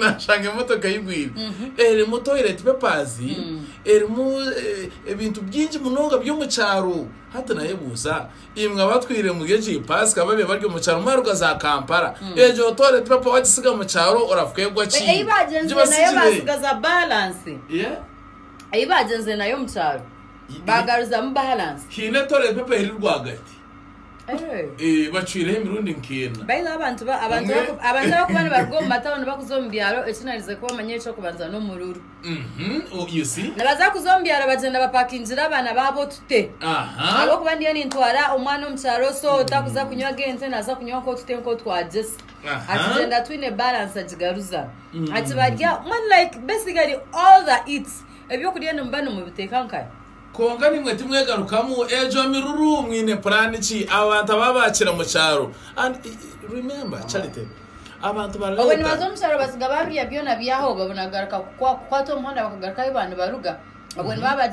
nashanga emotoka eyigwire erimu toilet papers erimu ebintu byingi munonga byomukyaro hati nayebuuza imwe abatwire muri egyo ipasika babe bari omukyaro mwaruga za kampala egyo toilet paper wagisiga mukyaro orakwegwa ki eyi bagyenze nayo omukyaro bagaruzamu balance hiine toilet paper eri rwagati Eh, bacwireho emirundi nk'ena baitu abantu ba- abantu Omwe- baku- abantu abakuba nibaruga omu matawuni bakuza omu byaro ekinarize kuba omanya ekyokubanza n'omururu Mhm, oh, you see? nibaza kuza omu byaro bagyenda bapakingira abaana baabo otute aha ahabwokuba ndiyo nintwara omwana omu kyaro so takuza kunywa ag'ente naza kunywa nk'otute nk'otwagyesa Aha. akigyenda twine balance agigaruza Mm. akibarya mwenu like basically all the eats ebyokurya nimuba nimubiteeka nkahi Kwonka nimwe timwegarukamu egyo miruru mwine plan ki abo bantu aba bakira mu kyaro and remember charity abantu ba obwe nibaza leta omu kyaro batsiga babirya byona byahoba obwe nagaruka kukwa- kukwata omuhanda bakagaruka ahu baba nibaruga obwe nibaba bagira